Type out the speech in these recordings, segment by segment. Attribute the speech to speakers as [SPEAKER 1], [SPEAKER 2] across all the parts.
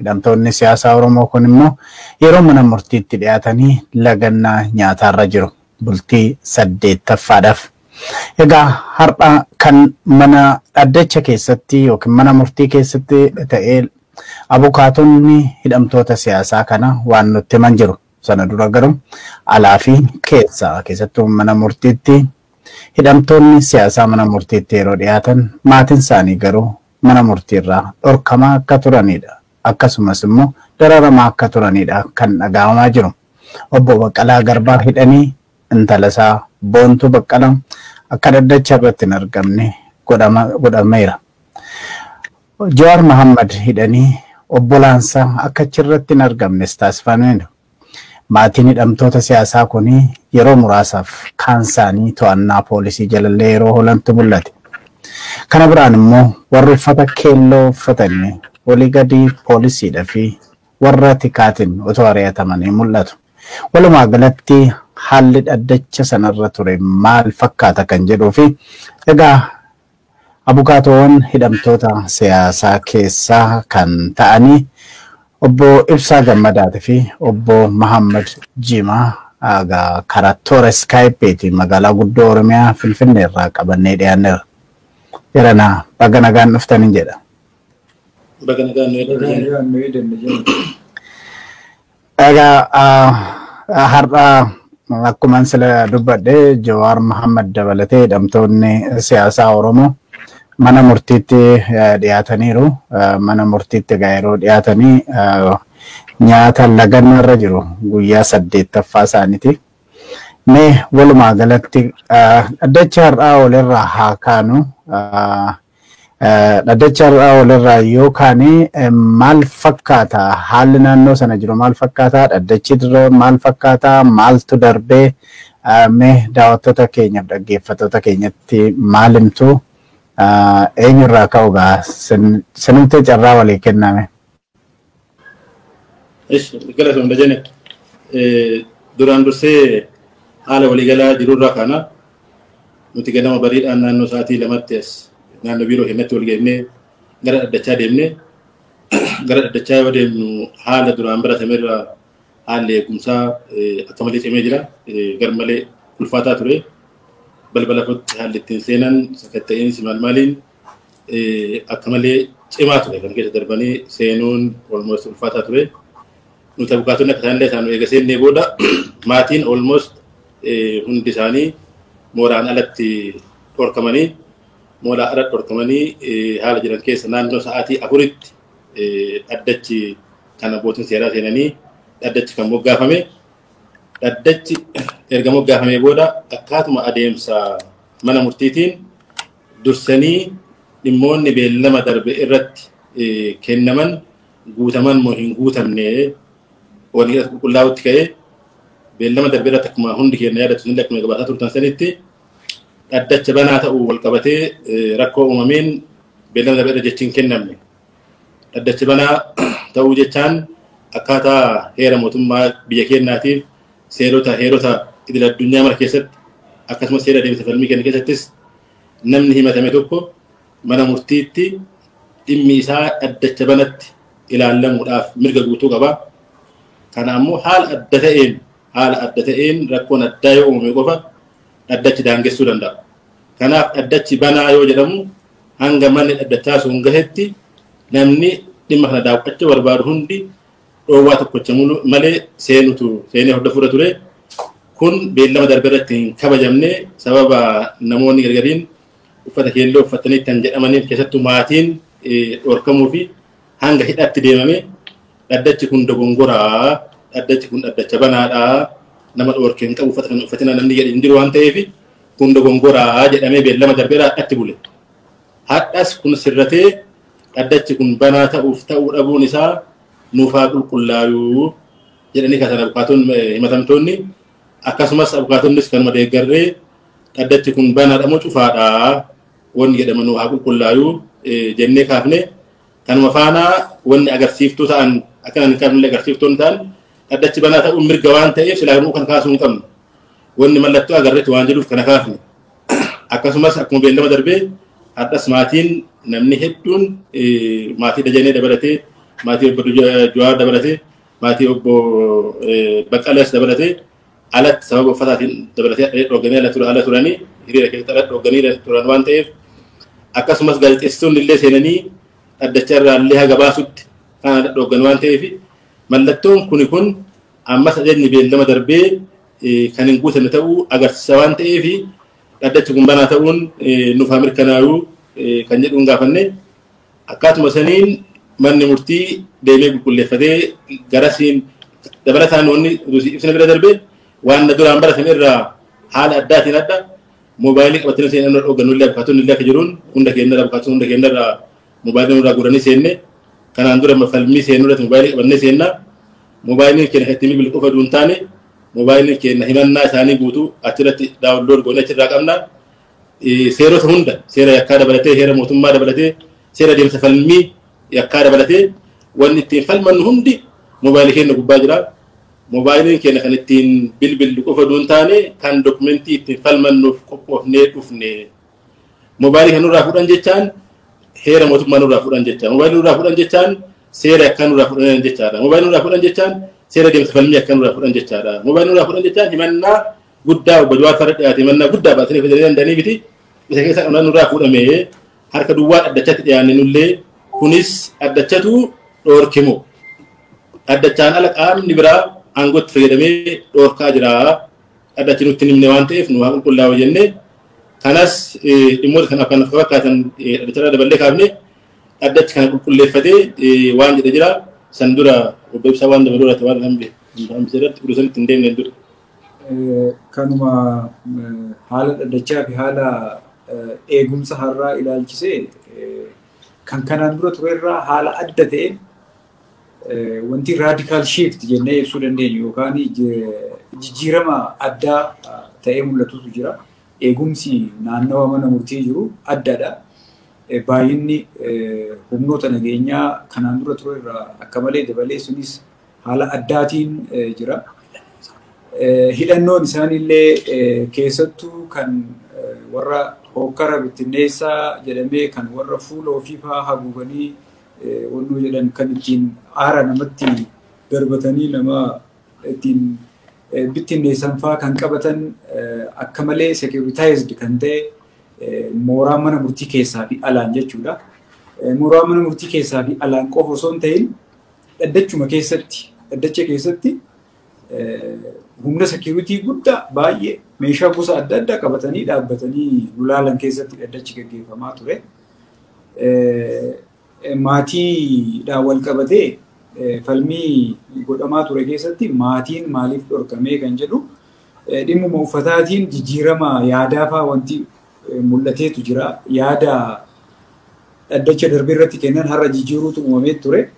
[SPEAKER 1] Hidhamtoonni siyaasaa Oromoo kun immoo yeroo mana murtiitti dhiyaatanii lagannaa nyaataarra jiru. Bultii saddeettaffaadhaaf. Egaa har'a kan mana dhaddacha keessatti yookiin mana murtii keessatti ta'ee abukaatonni hidhamtoota siyaasaa kana waan nutti himan jiru. Sana dura garuu alaa fi keessa keessattuu mana murtiitti hidhamtoonni siyaasaa mana murtiitti yeroo dhiyaatan maatiin isaanii garuu mana murtiirraa dhorkamaa akka turaniidha. Akkasumas immoo dararamaa akka turaniidha kan dhagahamaa jiru. Obbo Baqqalaa Garbaa hidhanii intala isaa Boontuu Baqqalaa akka dhaddacha irratti hin argamne godhameera. Jawaar Mahaammad hidhanii obbolaan isaa akka achirratti hin argamnes taasifameera. Maatiin hidhamtoota siyaasaa kun yeroo muraasaaf kaansaanii to'annaa poolisii jalallee yeroo oolantu mul'ate. Kana biraan immoo warri uffata keelloo uffatanii olii gadi poolisiidha fi warra tikaatiin otoo ari'atamanii mul'atu. Walumaa galatti haalli dhaddacha sanarra ture maal fakkaata kan jedhuu fi egaa Abukaatoowwan hidhamtoota siyaasaa keessaa kan ta'anii Obbo Ibsaa Gammadaati fi Obbo Mahaammad Jiimaa aga karaa toora Skypeetiin magaalaa guddoo Oromiyaa Finfinneerraa qabannee dhiyaanneerra. Jaranaa baga nagaan dhuftanin jedha.
[SPEAKER 2] Baga nagaan nu eegdan. Egaa
[SPEAKER 1] ah, har'a akkuman sila dubbadhe Jawaar Mohaammed dabalatee hidhamtoonni siyaasaa Oromoo mana murtiitti eh, dhiyaataniiru. Eh, Mana murtiitti egaa yeroo dhiyaatanii eh, nyaata lagannaa irra jiru guyyaa saddeettaffaa isaaniiti. Mee walumaa galatti ah, dhaddacha har'aa walirraa haa kaanu. Ah, Dhaddacha har'aa walirraa yoo kaane maal fakkaata? Haalli naannoo sana jiru maal fakkaata? Dhaddachi dura maal fakkaata? Maaltu darbee? Mee daawwattoota keenyaaf dhaggeeffattoota keenyatti maal himtu? Eenyurraa ka'u gaa? Sinumtee carraa walii kenname.
[SPEAKER 2] Ishi galatoom dajane duraan dursee haala waliigalaa jirurraa kana nuti ganama bariidhaan naannoo sa'aatii lamatti as naannoo biiroo keenyatti wal geennee gara dhaddachaa deemnee gara dhaddachaa yoo deemnu haala duraan baratamerraa haalli eegumsaa akka malee cimee jira gar malee ulfaataa ture balbala kootti haalli ittiin seenan sakatta'iinsi maal maaliin akka malee cimaa ture kan keessa darbanii seenuun olmoos ulfaataa ture. Nuti abukaatonni akka isaan illee isaan eega seennee booda maatiin olmoos hundi isaanii mooraan alatti dhorkamanii mooraan alatti dhorkamanii haala jiran keessa naannoo sa'aatii afuritti dhaddachi kan abbootiin seeraa seenanii dhaddachi kan moggaafame dhaddachi erga moggaafamee booda akkaatuma adeemsa mana murtiitiin Dursanii dhimmoonni beellama darbe irratti kennaman guutaman moo hin guutamne waliin as qulqullaa'utti ka'ee beellama darbe irratti akkuma hundi keenya yaadatu isin akkuma gabaasaa turtan sanitti dhaddacha banaa ta'uu wal qabatee rakkoo uumameen beellama darbe irra jechi hin kennamne. Dhaddacha banaa ta'uu jechaan akkaataa heera mootummaa biyya keenyaatiif Seerota heerota idil addunyaa mara keessatti akkasumas seera deemsa falmii kenna keessattis namni himatame tokko mana murtiitti dhimmi isaa dhaddacha banatti ilaallamuudhaaf mirga guutuu qaba. Kana ammoo haala adda ta'een haala adda ta'een rakkoon addaa yoo uumame qofa dhaddachi daangessuu danda'a. Kanaaf dhaddachi banaa yoo jedhamu hanga manni dhaddachaa sun gahetti namni dhimma kana daawwachuu barbaadu hundi dhoowwaa tokkocha malee seenutu seenee hordofuudha ture. Kun beellama darbe irratti hin kabajamne sababa namoonni gargariin uffata keelloo uffatanii kan jedhamaniif keessattuu maatiin dhorkamuu fi hanga hidhaatti deemame dhaddachi kun dogongoraa dhaddachi kun dhaddacha banaadhaa nama dhorke hin qabu uffata kan uffatina namni jedhe hin jiru waan ta'eef kun dogongoraa jedhamee beellama darbeera hadhatti bule. Hadhas kun sirratee Dhaddachi kun banaa ta'uuf ta'uu dhabuun isaa nuuf haa qulqullaayuu jedhanii kaasan abukaatoon himatamtoonni akkasumas abukaatonnis kanuma deeggarree dhaddachi kun banaadha moo cufaadha wanni jedhama nuuf haa qulqullaayuu jennee kaafne kanuma faanaa wanni agarsiiftuu ta'an akka hin qabne agarsiiftoon ta'an dhaddachi banaa ta'uun mirga waan ta'eef silaa nuu kan kaasuu hin qabnu wanni mallattoo agarreetti waan jedhuuf kana kaafne. Akkasumas akkuma beellama darbee har'as maatiin namni hedduun maatii Dajanee dabalatee maatii obbo Juwaar dabalatee maatii obbo Baqqalees dabalatee alatti sababa uffataatiin dabalatee adda dhoogganii ala ture ala turanii hiriira keessatti ala dhoogganii turan waan ta'eef akkasumas gaazexeessitoonni illee seenanii dhaddacha irraa illee haga baasutti kan ala dhooggan waan ta'eef mallattoon kuni kun ammas ajajni beellama darbee kan hin guutamne ta'uu agarsiisa waan ta'eef dhaddachi kun banaa ta'uun nuuf haa mirkanaayu kan jedhuun gaafanne akkaatuma saniin manni murtii deemee qulqulleeffatee garasiin dabalataan wanni ibsina bira darbe waan na duraan baratame irraa haala addaatiin adda moobaayilii qabatanii seenan irra dhooggannullee abukaatonni illee akka jiruun hunda keenya irraa abukaatonni hunda keenya irraa Mobaayilii nurraa guuranii seenne kanaan dura falmii seennu irratti mobaayilii qabannee seenna. Mobaayiliin keenya kan ittiin bilbilu qofa utuu hin taane mobaayiliin keenya himannaa isaanii guutuu achirratti daawunlood goonee achirraa qabna. Seerota hunda seera yakkaa dabalatee heera mootummaa dabalatee seera deemsa falmii yakkaa dabalatee wanni ittiin falmannu hundi mobaayilii keenya gubbaa jira. Mobaayiliin keenya kan ittiin bilbillu qofa utuu hin taane kan dokumentii ittiin falmannuuf qophoofnee dhufne. Mobaayilii kan nurraa fudhan jechaan heera mootummaa nurraa fudhan jechaa. Mobaayilii nurraa fudhan jechaan seera akka nurraa fudhan jechaadha. Mobaayilii nurraa fudhan jechaan seera deemsa falmii akka nurraa fudhan jechaadha. Mobaayilii nurraa fudhan jechaan himannaa guddaa obbo Jawaar farra dhiyaate himannaa guddaa baasanii fidanii danda'anii miti. Isa keessaa kan nurraa fuudhame harka duwwaa dhaddachatti dhiyaanne nullee kunis dhaddachatu dhoorkimo. Dhaddachaan ala qaamni biraa aangootti fayyadamee dhoorkaa jira. dhadhachi nutti hin himne waan ta'eef nu haa qulqullaa'u jennee kanas dhimmoota kanaaf kan fakkaatan dhadhacharra daballee kaafne dhaddachi kana qulqulleeffatee waan jedhe jira san dura obbo Ibsaa waan dabaluu irratti waan hambee hambisee irratti utuu sanitti hin deemne dura.
[SPEAKER 3] Kanuma haala dhaddachaa fi haala eegumsa har'aa ilaalchisee kan kanaan dura turerraa haala adda ta'een Wanti raadikaal shiift jennee ibsuu dandeenyu yookaan jijjiirama addaa ta'ee mul'atutu jira. Eegumsi naannawa mana murtii jiru addadha. Baay'inni humnoota nageenyaa kanaan dura ture irraa akka malee dabalee sunis haala addaatiin jira. Hidhannoon isaaniillee keessattuu kan warra hookkara bittinneessaa jedhamee kan warra fuula ofiifaa haguuganii wannoo jedhan kan ittiin aara namatti darbatanii nama ittiin bittinneessan faa kan qabatan akka malee securitized kan ta'e mooraa mana murtii keessaa fi alaan jechuudha. Mooraa mana murtii keessaa fi alaan qofa osoo hin ta'in dhaddachuma keessatti dhaddacha keessatti humna security guddaa baay'ee meeshaa gosa adda addaa qabatanii dhaabbatanii gulaalan keessatti dhaddachi gaggeeffamaa ture. Maatiidhaan wal qabatee falmii godhamaa ture keessatti maatiin maaliif dhorkamee kan jedhu dhimmuma uffataatiin jijjiirama yaadaa fa'aa wanti mul'ateetu jira. Yaada dhaddacha darbe irratti kennan har'a jijjiiruutu uumamee ture.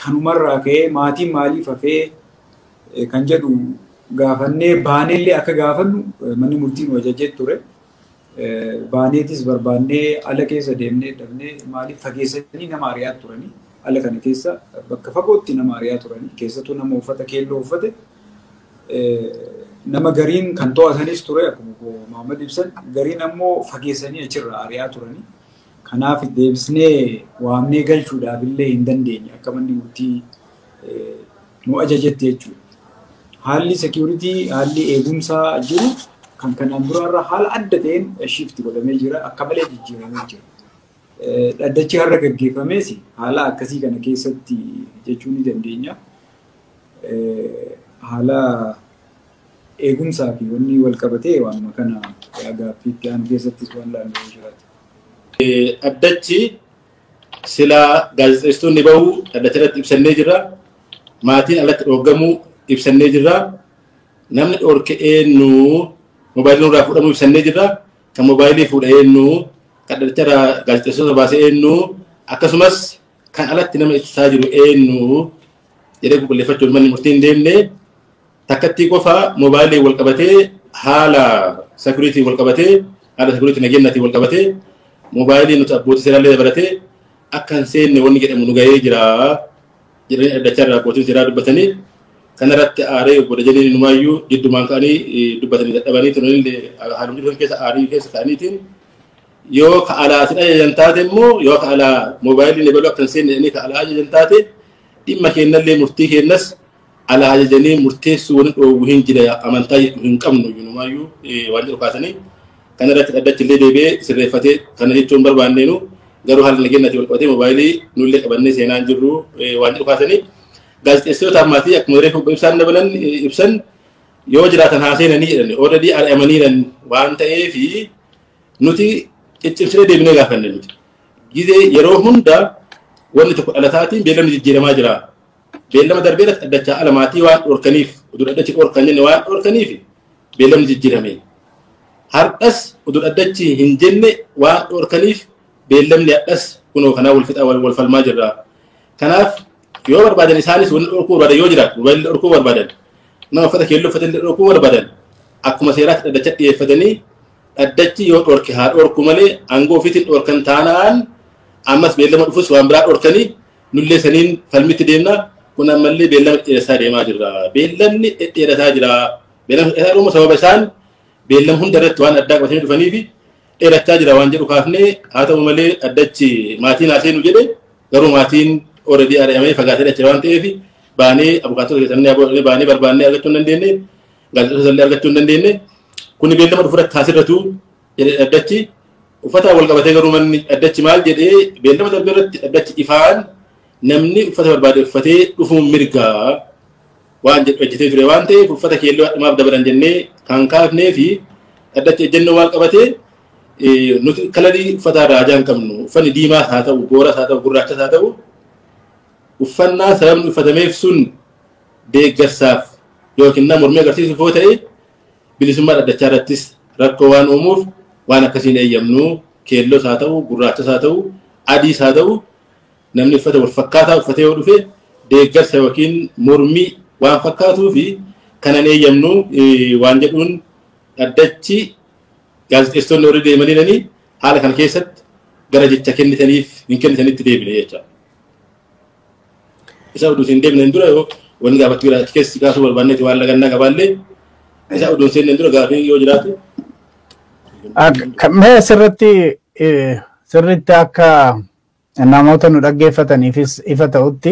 [SPEAKER 3] Kanumarraa ka'ee maatiin maaliif hafee kan jedhu gaafannee baaneellee akka gaafannu manni murtii nu ajajee ture. Baaneetis barbaannee ala keessa deemnee dhabnee maaliif fageessanii nama ari'aa turanii ala kana keessa bakka fagootti nama ari'aa turanii keessattuu nama uffata keelloo uffate nama gariin kan to'atanis ture akkuma Maamad ibsan gariin ammoo fageessanii achirraa ari'aa turanii. Kanaaf deebisnee waamnee galchuudhaaf illee hin dandeenye akka manni murtii nu ajajetti jechuudha. Haalli seekiyuritii, haalli eegumsaa jiru kan kanaan duraarra haala adda ta'een shiifti godhamee jira. Akka malee jijjiiramee jira. Dhaddachi har'a gaggeeffamees haala akkasii kana keessatti jechuu ni dandeenya. Haala eegumsaa fi wanni wal qabatee waanuma kana gaaffii itti aanu keessattis waan laallu yoo jiraate.
[SPEAKER 2] Dhaddachi silaa gaazexeessitoonni bahuu dhaddacha irratti ibsannee jirra. Maatiin alatti dhooggamuu ibsannee jirra. Namni dhoorke eenyu moobaayilii nurraa fuudhamuu ibsannee jirra. Kan moobaayilii fuudha eenyu kan dhaddacha irraa gaazexeessitoota baase eenyu akkasumas kan alatti nama ibsaa jiru eenyu jedhee qulqulleeffachuuf manni murtii hin deemne. Takkattii qofa mobaayiliin wal qabatee haala security wal qabatee haala security nageenyatiin wal qabatee mobaayiliin nuti abbootii seeraallee dabalatee akka hin seenne wanni jedhamu nu gahee jira jedhanii dhaddachaa irraa abbootiin seeraa dubbatanii kanarratti aaree obbo Dajanee Numaayyuu jiddumaan ka'anii dubbatanii dadhabanii turanillee haalumni dhufan keessa aarii keessa ka'aniitiin yoo ka alaa sin ajajan taate immoo yoo ka alaa moobaayiliin ebaluu akka hin seenne jedhanii ka alaa ajajan taate dhimma keennallee murtii keennas Alaa ajajanii murteessuu wani dhoowwu hin jira amantaa jedhu hin qabnu inumaayyuu waan jedhu kaasanii kana irratti dhaddachi illee deebi'ee sirreeffatee kana jechuun barbaanneenu garuu haala nageenyaatiin wal qabatee moobaayilii nullee qabannee seenaa hin jirru waan jedhu kaasanii gaazexeessitoota ammaatii akkuma reefu ibsaan dabalan ibsan yoo jiraatan haa seenanii jedhan ooradii ari'amaniiran waan ta'eef nuti ciccimsinee deebinee gaafanne nuti gizee yeroo hunda wanni tokko dhalataatiin beelamni jijjiiramaa jira Beellama darbee irratti dhaddachaa ala maatii waan dhorkaniif utuu dhaddachi dhorkan jenne waan dhorkaniif beellamni jijjiirame. Hardhas utuu dhaddachi hin jenne waan dhorkaniif beellamni hadhas kunoo kanaa wal fixaa wal falmaa jirra. Kanaaf yoo barbaadan isaanis wanni dhorkuu barbaadan yoo jiraatu mobaayilli dhorkuu barbaadan nama uffata keelloo uffatan dhorkuu barbaadan akkuma seeraatti dhaddacha dhiyeeffatanii dhaddachi yoo dhorke haa dhorku malee aangoo ofiitiin dhorkan taanaan ammas beellama dhufus waan biraa dhorkanii Nullee saniin falmitti deemna. Kun ammallee beellama dhedheeressaa deemaa jirra. Beellamni dhedheeressaa jira. Beellamni dhedheeressaa dhuma sababa isaan beellam hunda irratti waan addaa qabatanii dhufanii fi dheerachaa jira waan jedhu kaafnee haa ta'u malee addachi maatiin haa seenu jedhe garuu maatiin already ari'amee fagaatee dhache waan ta'eef baanee abukaatota keessannee aboodhanii baanee barbaannee argachuu hin dandeenye gaazexoota illee argachuu hin dandeenye kuni beellama dhufu irratti haasirratu jedhe dhaddachi uffataan wal qabatee garuu manni dhaddachi maal jedhee beellama darbe irratti dhaddachi ifaan namni uffata barbaade uffatee dhufuun mirgaa waan jedhu ejjitee ture waan ta'eef uffata keelloo hadhumaaf dabalan jennee kan kaafnee fi dhaddachi ejjennoo maal qabate nuti kalarii uffata raajaa hin qabnu uffanni diimaas haa ta'u gooras haa ta'u gurraachas haa ta'u uffannaa sababni uffatameef sun deeggarsaaf yookiin nama mormii agarsiisuuf yoo ta'e Bilisummaa dhaddachaa irrattis rakkoo waan uumuuf waan akkasii hin eeyyamnu. Keellos haa ta'u, gurraachas haa ta'u, adiis haa ta'u namni uffata wal fakkaataa uffatee yoo dhufe deeggarsa yookiin mormii waan fakkaatuu fi kana hin eeyyamnu waan jedhuun dhaddachi gaazexeessitoonni warri deemanii haala kana keessatti gara jecha kennitaniif hin kennitanitti deebine jecha. Isa oduu hin deemneen dura yoo wanni gaafachuu jiraate keessi kaasuu barbaanneeti waan lagannaa qabaallee isa oduu hin seenneen dura gaafii yoo jiraate.
[SPEAKER 1] Mee sirritti sirritti akka namoota nu dhaggeeffataniifis ifa ta'utti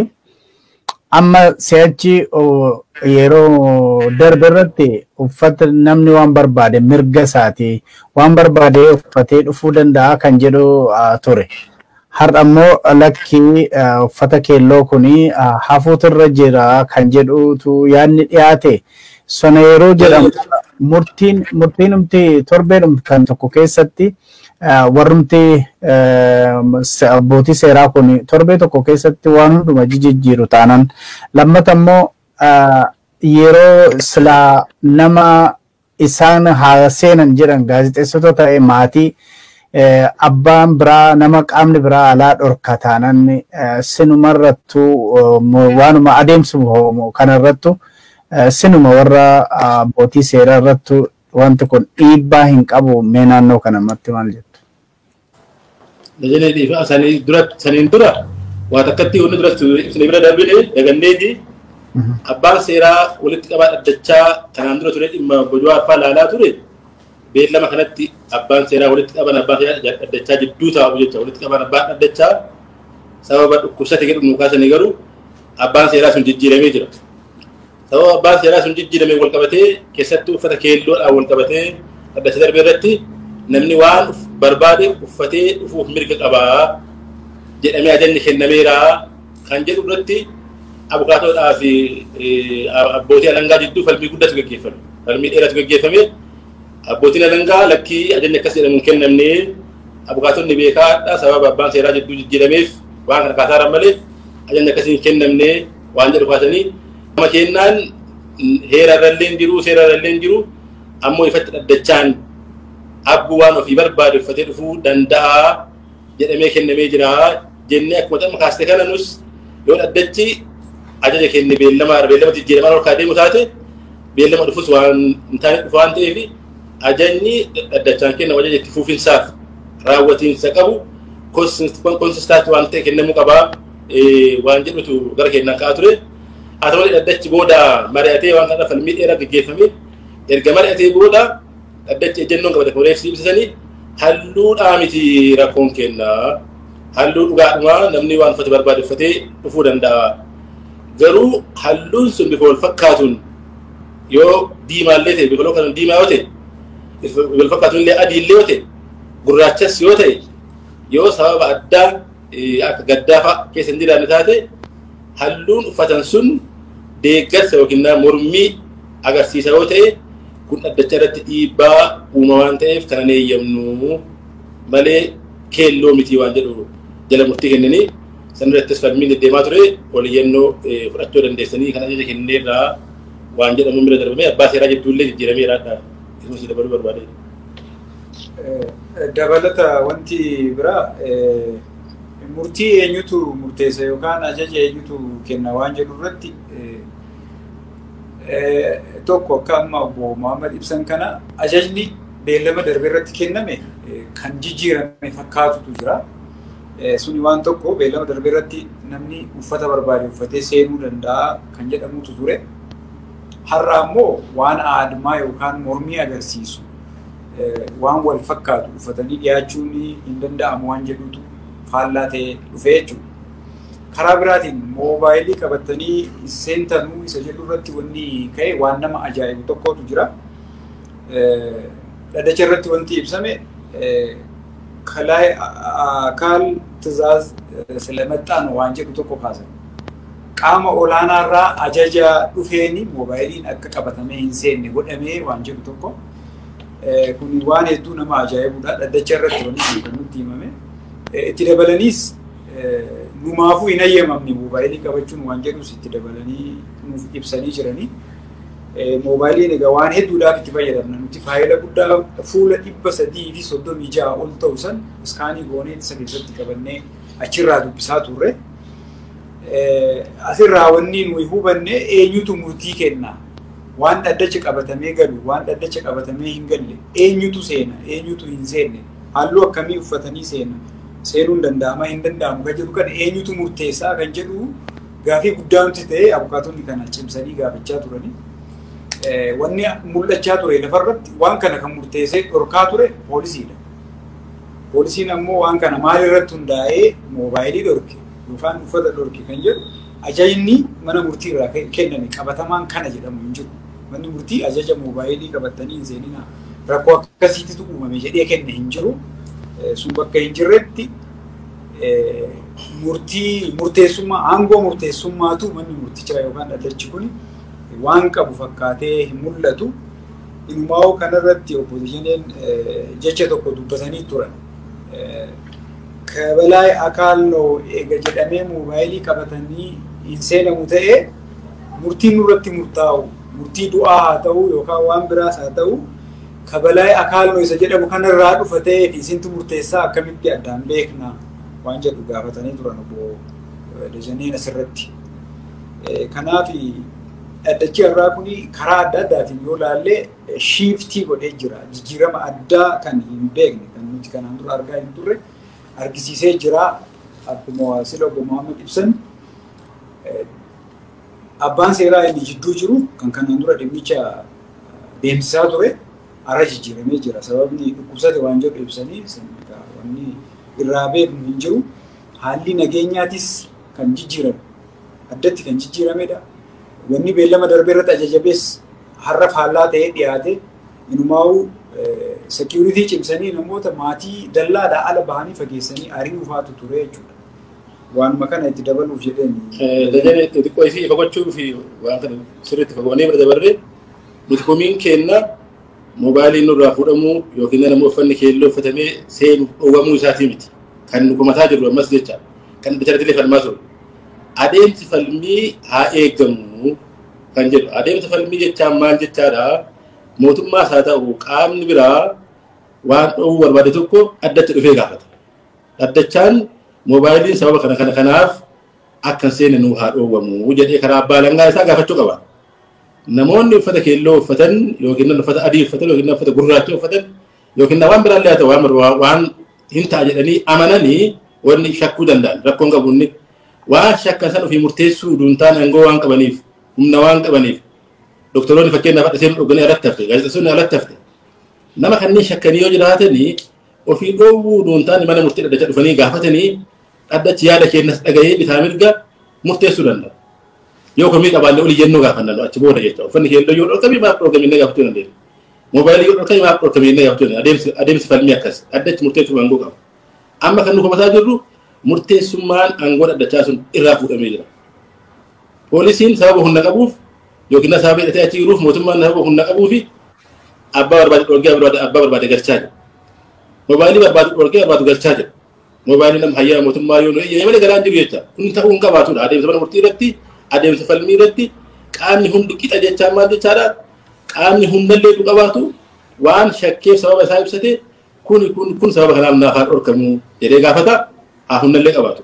[SPEAKER 1] amma si'achi yeroo darbe irratti uffata namni waan barbaade mirga isaati waan barbaade uffatee dhufuu danda'a kan jedhu ture. Har'a immoo lakki uffata keelloo kun hafuutu irra jira kan jedhutu yaadni dhiyaate. Sona yeroo jedhamu murtiin murtiinumti torbeedhumti kan tokko keessatti warrumti abbootii seeraa kun torbee tokko keessatti waan hunduma jijjiiru taanaan lammata immoo yeroo silaa nama isaan haa seenan jedhan gaazexeessota ta'e maatii abbaan biraa nama qaamni biraa alaa dhorka taanan sinumarrattu waanuma adeemsu kanarrattu sinuma warra abbootii seeraa irrattu wanti kun dhiibbaa hin qabu mee naannoo kanamatti maal jettu? Dajanee
[SPEAKER 2] dhiifama sanii dura saniin dura waa takkatti wanni dura isin bira darbine daganneeti abbaan seeraa walitti qabaa dhaddachaa kanaan dura ture dhimma bojwaa faa laalaa ture beellama kanatti abbaan seeraa walitti qaban abbaa seeraa dhaddachaa jidduu taa'u jecha walitti qaban abbaa dhaddachaa sababa dhukkubsate jedhu nu kaasanii garuu abbaan seeraa sun jijjiiramee jira. Sababa abbaan seeraa sun jijjiirameen wal qabatee keessattuu uffata keelloodhaan wal qabatee dhaddacha darbe irratti namni waan uf- barbaade uffatee dhufuuf mirga qaba jedhamee ajajni kennameera kan jedhu irratti abukaatoodhaa fi eh, abbootii alangaa jidduu falmii guddatu gaggeeffame. Falmii dheeratu gaggeeffame. Abbootiin alangaa lakkii ajajni akkas jedhamu hin kennamne abukaatonni beekaadha sababa abbaan seeraa jidduu jijjiirameef waan kana kaasaa jiran malee ajajni akkasii hin kennamne waan jedhu kaasanii gama keennaan heera irrallee hin jiru seera irrallee hin jiru ammoo ifatti dhaddachaan abbuu waan ofii barbaade uffatee dhufuu danda'a jedhamee kennamee jira jennee akkuma xamma kaaste kana nus yoo dhaddachi ajaja kenne beellama beellama jijjiiramaa ol kaadeemu taate beellama dhufus waan hin taane dhufu waan ta'eef ajajni dhaddachaan kennamu ajaja itti fufinsaaf raawwatiinsa qabu konsistaati waan ta'e kennamuu qabaa. waan jedhutu gara keenyaan ka'aa ture. Haa ta'u malee dhaddachi booda mari'atee waan kana falmii dheeraa gaggeeffame erga mari'atee booda dhaddachi ejjennoon qabate foreeksii ibsisanii halluudhaa miti rakkoon kenna halluu dhugaadhumaa namni waan uffate barbaade uffatee dhufuu danda'a. Garuu halluun sun bifa wal fakkaatuun yoo diimaallee ta'e bifa kan diimaa yoo ta'e wal fakkaatuun illee adii illee yoo ta'e gurraachas yoo ta'e yoo sababa addaa akka gaddaa fa'a keessa hin jiraanne taate halluun uffatan sun deeggarsa yookiin mormii agarsiisa yoo ta'e kun dhaddacha irratti dhiibbaa uuma waan ta'eef kana hin eeyyamnu malee keelloo miti waan jedhu jala murtii kennanii san irrattis falmiin deddeemaa ture oliyyannoo fudhachuu dandeessanii kan ajaja kenneerraa waan jedhamu bira darbamee abbaa seeraa jidduullee jijjiirameeraadha. Kunuunsi dabaluu barbaadee.
[SPEAKER 3] Dabalata wanti biraa murtii eenyutu murteessa yookaan ajaja eenyutu kenna waan jedhu irratti tokko akka amma obbo Muhammad ibsan kana ajajni beellama darbe irratti kenname kan jijjiirame fakkaatutu jira. Suni waan tokko beellama darbe irratti namni uffata barbaade uffatee seenuu danda'a kan jedhamutu ture. Har'a ammoo waan aadmaa yookaan mormii agarsiisu waan wal fakkaatu uffatanii dhiyaachuun hin danda'amu waan jedhutu faallaa ta'ee dhufee jechuudha. Karaa biraatiin moobaayilii qabatanii seentanuu isa jedhu irratti wanni ka'e waan nama ajaa'ibu tokkotu jira. Dhadacha irratti wanti ibsame kaal tizaaz silamattaan waan jedhu tokko kaasan. Qaama olaanaa irraa ajaja dhufeen moobaayiliin akka qabatamee hin seenne godhamee waan jedhu tokko kun waan hedduu nama ajaa'ibudha. Dhaddacha irratti wanni kun kan nutti himame. Itti dabalaniis numaafuu hin hayyamamne moobaayilii qabachuun waan jedhus itti dabalanii nuuf ibsanii jiranii. Moobaayiliin egaa waan hedduudhaaf itti fayyadamna. Nuti faayila guddaa fuula dhibba sadii fi soddomii ja'a ol ta'u san iskaanii goonee isa keessatti qabannee achirraa dubbisaa turre. Asirraa wanni nuyi hubanne eenyutu murtii kenna? Waan dhaddacha qabatamee galu, waan dhaddacha qabatamee hin galle, eenyutu seena, eenyutu hin seenne, halluu akkamii uffatanii seena, seenuun danda'ama hin danda'amu kan jedhu kana eenyutu murteessaa kan jedhu gaafii guddaa nuti ta'ee abukaatonni kana cimsanii gaafachaa turani. Wanni mul'achaa ture lafarratti waan kana kan murteessee dhorkaa ture poolisiidha. Poolisiin ammoo waan kana maalirratti hundaa'ee moobaayilii dhorke, yookaan uffata dhorke kan jedhu ajajni mana murtii irraa kenname qabatamaan kana jedhamu hin jiru. Manni murtii ajaja moobaayilii qabattanii hin seeninaa rakkoo akkasiititu uumame jedhee kenne hin jiru. Sun bakka hin jirretti murtii murteessummaa aangoo murteessummaatu manni murtichaa yookaan dhaddachi kun waan qabu fakkaatee hin mul'atu. Inumaa'uu kanarratti obbo Dajaneen jecha tokko dubbatanii turan. Kabalaay Akaalloo eega jedhamee moobaayilii qabatanii hin seenamu ta'e murtiin nurratti murtaa'u murtii du'aa haa ta'u yookaan waan biraas haa ta'u kabalaay Akaalloo isa jedhamu kanarraa dhufa ta'ee fi isintu murteessaa akkamitti addaan beekna waan jedhu gaafatanii turan obbo Dajaneen asirratti. Kanaaf Dhaddachi har'aa kun karaa adda addaatiin yoo ilaalle shiiftii godhee jira. Jijjiirama addaa kan hin beekne kan nuti kanaan dura argaa hin turre argisiisee jira. Akkuma sila obbo Mohaammed ibsan abbaan seeraa inni jidduu jiru kan kanaan dura dhimmicha deemsisaa ture har'a jijjiiramee jira. Sababni dhukkubsate waan jedhu ibsanii wanni irraa beeknu hin jiru. Haalli nageenyaatis kan jijjiirame addatti kan jijjiiramedha. Wanni beellama darbe irratti ajajamees har'a faallaa ta'ee dhiyaate inumaa'uu seekiyuritii cimsanii namoota maatii dallaadhaa ala bahanii fageessanii ari'uu faatu ture jechuudha. Waanuma kana itti dabaluuf jedheen. Dajanee xixiqqoo
[SPEAKER 2] isii ifa gochuu fi waan kana sirriitti fagoonee bira dabarree nuti komiin keenna moobaayiliin nurraa fuudhamuu yookiin namni uffanni keelloo uffatamee seenuuf dhowwamuu isaatii miti. Kan nu komataa jirru ammas jecha kan bitaratilee falmaa ture. Adeemsi falmii haa eegamu kan jedhu. Adeemsa falmii jechaan maal jechaadha? Mootummaas haa ta'u qaamni biraa waan dhoowwuu barbaade tokko addatti dhufee gaafata. Dhaddachaan moobaayiliin sababa kana kana kanaaf akka hin seenne nuu haa dhoowwamu jedhee karaa abbaa alangaa isaa gaafachuu qaba. Namoonni uffata keelloo uffatan yookiin uffata adii uffatan yookiin uffata gurraacha uffatan yookiin waan biraallee haa ta'u waan barbaa- waan hin ta'a jedhanii amananii wanni shakkuu danda'an rakkoon qabu inni waan shakkan san ofii murteessuu utuu hin taane aangoo waan qabaniif humna waan qabaniif doktoroonni fakkeenyaaf hadha seenuu dhoganii alatti hafte gaazexessoonni alatti hafte nama kanneen shakkanii yoo jiraatanii ofii dhoowwuu utuu hin taane mana murtii dhaddacha dhufanii gaafatanii dhaddachi yaada keenyas dhaga'ee bitaa mirga murteessuu danda'a. Yoo komii qabaallee olii jennuu gaafanna achi booda jechuudha. Uffanni keelloo yoo dhorkame maaf dhorkame inni gaafachuu dandeenya. Moobaayilii yoo dhorkame maaf dhorkame jennee gaafachuu dandeenya. Adeemsi adeemsi falmii akkasi. Dhaddachi murteessuuf aangoo qaba. Amma kan nu komataa jirru murteessummaan aangoo dhaddachaa sun irraa fuudhamee jira. Poolisiin sababa humna qabuuf yookiin na sababa hidhatee achi jiruuf mootummaan sababa humna qabuu fi abbaa barbaade dhorkee abbaa barbaade galchaa jira. Moobaayilii barbaadu dhorkee barbaadu galchaa jira. Moobaayilii nam hayyaa mootummaa yoo nu eeyyame malee galaan jiru jecha kun ta'uu hin qabaatudha. Adeemsa mana murtii irratti adeemsa falmii irratti qaamni hundi qixa jechaa maal jechaadha qaamni hundallee nu qabaatu waan shakkeef sababa isaa ibsate kun kun kun sababa kanaaf naaf haa dhorkamu jedhee gaafata haa hundallee qabaatu.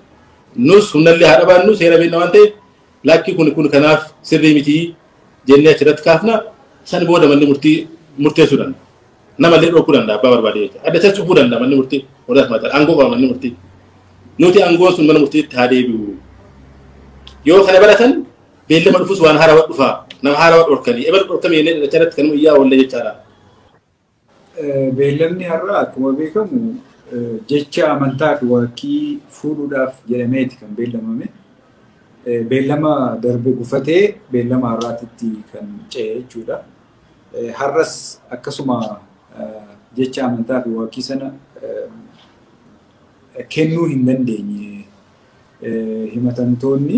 [SPEAKER 2] Nus hundallee haa dhabaannu seera beekna waan ta'eef lakki kun kun kanaaf sirrii miti jennee achirratti kaafna san booda manni murtii murteessuudhaan Nama illee dhookuu danda'a abbaa barbaade jechuudha. Adda isas cufuu danda'a manni murtii warra asmaata aangoo qaba manni murtii. Nuti aangoon sun mana murtiitti haa deebi'u. Yoo kana baratan beellama dhufus waan haarawaa dhufaa nama haarawaa dhorkanii ebal dhorkame jennee dhalacha irratti kanuma iyyaa oolle jechaadha.
[SPEAKER 3] Beellamni har'aa akkuma beekamu jecha amantaa fi waaqii fuudhuudhaaf jedhameeti kan beellamame. Beellama darbe gufatee beellama har'aatitti kan ce'e jechuudha. Har'as akkasuma jecha amantaa fi waaqii sana kennuu hin dandeenye. Himatamtoonni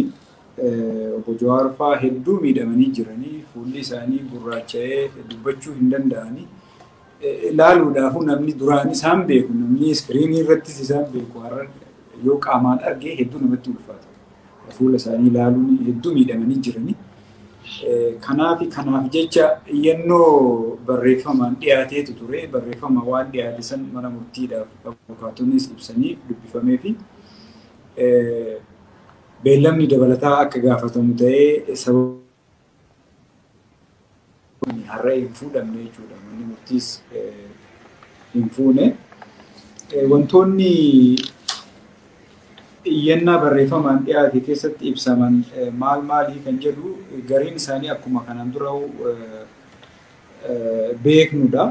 [SPEAKER 3] obbo Jawaar fa'aa hedduu miidhamanii jiranii fuulli isaanii gurraacha'ee dubbachuu hin danda'anii ilaaluudhaafuu namni duraan isaan beeku namni iskiriinii irrattis isaan beeku har'a yoo qaamaan arge hedduu namatti ulfaata. Fuula isaanii ilaaluun hedduu miidhamanii jiranii. Kanaaf kanaaf jecha iyyannoo barreeffamaan dhiyaateetu ture. Barreeffama waan dhiyaate san mana murtiidhaaf abukaatonis ibsanii dubbifamee fi beellamni dabalataa akka gaafatamu ta'ee sababa Kun har'a hin fuudhamne jechuudha. Manni murtiis hin fuune. Wantoonni iyyannaa barreeffamaan dhiyaate keessatti ibsaman maal maalii kan jedhu gariin isaanii akkuma kanaan dura beeknudha.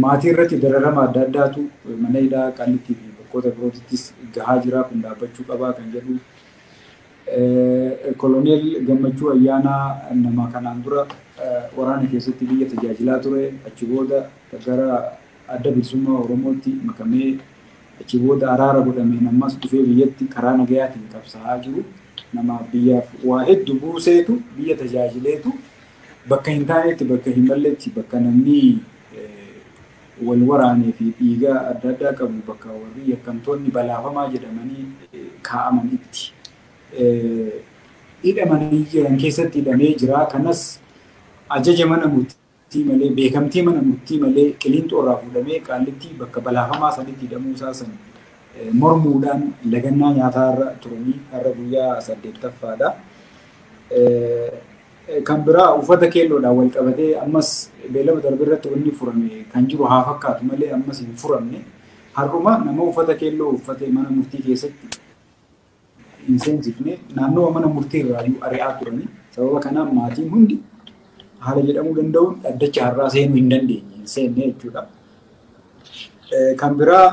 [SPEAKER 3] Maatii irratti dararama adda addaatu mana hidhaa qallitti fi bakkoota birootittis gahaa jira kun dhaabbachuu qabaa kan jedhu Koloneel Gammachuu Ayyaanaa nama kanaan dura waraana keessatti biyya tajaajilaa ture, achi booda gara Adda Bilisummaa Oromootti makamee, achi booda araara godhameen ammas dhufee biyyatti karaa nagayaatiin qabsaa'aa jiru, nama biyyaaf waa heddu buuseetu, biyya tajaajileetu, bakka hin taanetti, bakka hin malletti, bakka namni wal waraanee fi dhiiga adda addaa qabu bakka warri yakkamtoonni balaafamaa jedhamanii kaa'aman itti hidhamanii jiran keessatti hidhamee jira. Kanas ajaja mana murtii malee, beekamtii mana murtii malee Qiliinxoo irraa fuudhamee Qaallittii bakka balaafamaa sanitti hidhamuu isaa san mormuudhaan lagannaa nyaataa irra turanii har'a guyyaa saddeettaffaadha. Kan biraa uffata keelloodhaan wal qabatee ammas beellama darbe irratti wanni furame kan jiru haa fakkaatu malee ammas hin furamne. Har'uma nama uffata keelloo uffatee mana murtii keessatti hin seensifne naannawa mana murtii irraayyuu ari'aa turani. Sababa kanaan maatiin hundi haala jedhamuu danda'uun dhaddacha har'aa seenuu hin dandeenye hin seenne jechuudha. Kan biraa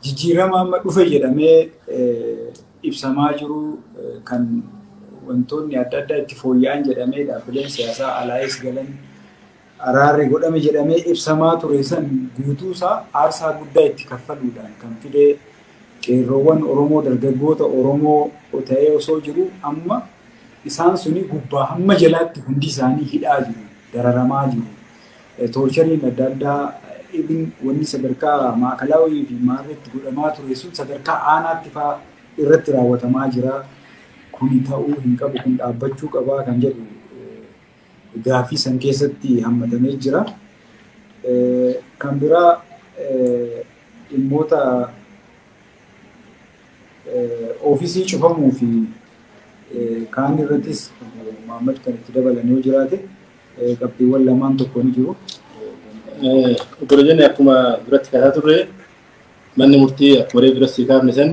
[SPEAKER 3] jijjiirama amma dhufe jedhamee ibsamaa jiru kan wantoonni adda addaa itti fooyya'an jedhamee dhaabbileen siyaasaa alaayis galan araarri godhame jedhamee ibsamaa ture san guutuusaa aarsaa guddaa itti kaffaluudhaan kan fidee qeerroowwan Oromoo dargaggoota Oromoo ta'ee osoo jiru amma isaan suni gubbaa hamma jalaatti hundi isaanii hidhaa jiru, dararamaa jiru. Toorchariin adda addaa even wanni sadarkaa maakalaawii fi maarreetti godhamaa ture sun sadarkaa aanaatti faa irratti raawwatamaa jira. Kuni ta'uu hin qabu kun dhaabbachuu qabaa kan jedhu gaaffii san keessatti hammatamee jira. Kan biraa dhimmoota Oofisii cufamuu fi kaan irrattis maammati kan itti dabalan yoo jiraate qabxiiwwan lamaan tokko ni jiru. Obbo
[SPEAKER 2] Jenni akkuma
[SPEAKER 3] duratti
[SPEAKER 2] kaasaa turre manni murtii akkuma reef duratti kaafne san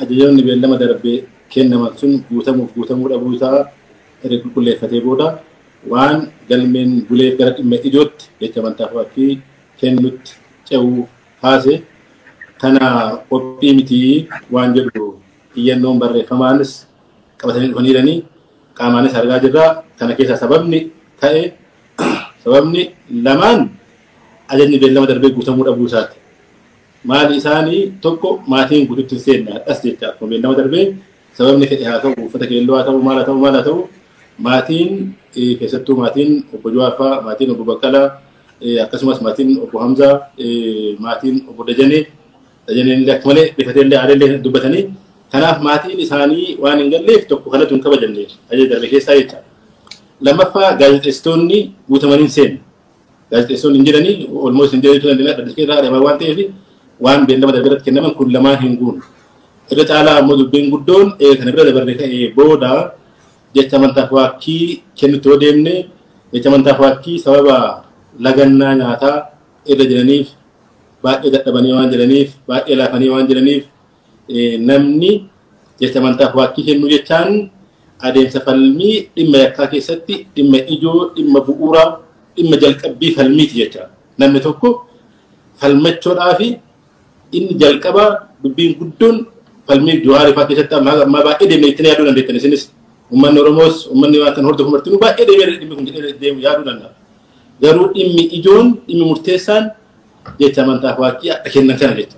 [SPEAKER 2] ajajoonni beellama darbee kennaman sun guutamuuf guutamuu dhabuu isaa erga qulqulleeffatee booda waan galmeen buleef gara dhimma ijootti jecha amantaa fi kennutti ce'uu kaase tana qophii miti waan jedhu iyyannoon barreeffamaanis qabatanii dhufaniiranii qaamaanis argaa jirra. Kana keessaa sababni ta'e sababni lamaan ajajni beellama darbee guutamuu dhabuu isaati. Maali isaanii tokko maatiin guututti hin seenne hadhas jecha akkuma beellama darbee sababni fedhe haa ta'u uffata keelloo haa ta'u maal haa ta'u maal haa ta'u maatiin keessattuu maatiin obbo Jawaar fa'aa maatiin obbo Baqqalaa akkasumas maatiin obbo Hamzaa maatiin obbo Dajanee Dajaneen illee akka malee rifatee illee aaree illee dubbatanii kanaaf maatiin isaanii waan hin galleef tokko kanatu hin kabajamne ajaja darbe keessaa jecha. Lammaffaa gaazexeessitoonni guutamanii hin seenne. Gaazexeessitoonni hin jedhanii olmoos hin jedhanii turan dhadhas keessaa adamaa waan ta'eef waan beellama darbe irratti kennaman kun lamaan hin guunne. Irra caalaa ammoo dubbiin guddoon kana bira dabarre ka'ee booda Jecha amantaa faakkii kennutti yoo deemne, jecha amantaa faakkii sababa lagannaa nyaataa irra jiraniif, baay'ee dadhabanii waan jiraniif, baay'ee laafanii waan jiraniif namni jecha amantaa faakkii kennuu jechaan adeemsa falmii dhimma yakkaa keessatti dhimma ijoo, dhimma bu'uuraa, dhimma jalqabbii falmiiti jecha. Namni tokko falmachuudhaa fi Inni jalqabaa dubbiin guddoon falmii Jawaar fa'aa keessatti amma amma baay'ee deemee ittiin yaaduu dandeettan isinis uummanni Oromoos uummanni waan kan hordofu martinuu baay'ee deemee dhimmi kun jedhee deemu yaaduu danda'a. Garuu dhimmi ijoon dhimmi murteessaan jecha amantaa fa'aatti akka kennan kana jecha.